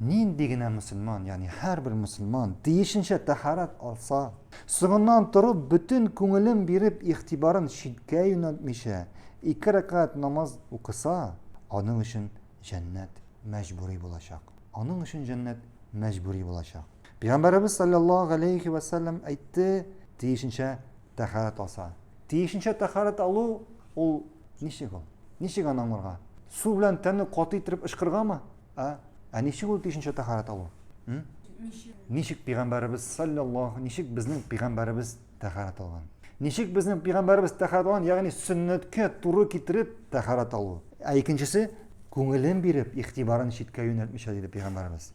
Нинди генә мөселман, ягъни һәрбер мөселман тиешенчә тәһарәт алса, соңыннан торып, бөтен күңелен биреп, игътибарын читкә юнәлтмичә, ике рәкәгать намаз укыса, аның өчен җәннәт мәҗбүри булачак. Аның өчен җәннәт мәҗбүри булачак. Пәйгамбәребез салләллаһу галәйһи вә сәлләм әйтте, тиешенчә тәһарәт алса. Тиешенчә тәһарәт алу ул ничек ул? Ничек аны аңларга? Су белән тәнне каты иттереп ышкыргамы? А? Ә ничек ул тишенчә тәһарәт алу? Ничек? Ничек пигамбарыбыз саллаллаһу, ничек безнең пигамбарыбыз тәһарәт алган? Ничек безнең пигамбарыбыз тәһарәт алган, ягъни сөннәткә туры китереп тәһарәт алу. Ә икенчесе күңелен биреп, игътибарын читкә юнәлтмичә диде пигамбарыбыз.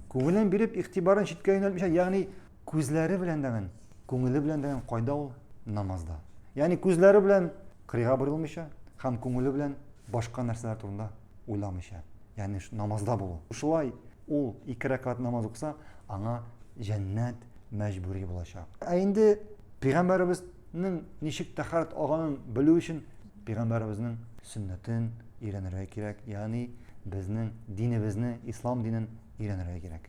Күңелен биреп, игътибарын читкә юнәлтмичә, ягъни күзләре белән дәген, күңеле белән дәген кайда ул? Намазда. Ягъни күзләре белән кырыйга борылмыйча һәм күңеле белән башка нәрсәләр турында уйламыйча, ягъни намазда булу. Шулай ул ике рәкәгать намаз укыса, аңа җәннәт мәҗбүри булачак. Ә инде пәйгамбәребезнең ничек тәхарат алганын белү өчен пәйгамбәребезнең сөннәтен өйрәнергә кирәк, ягъни безнең динебезне, ислам динен өйрәнергә кирәк.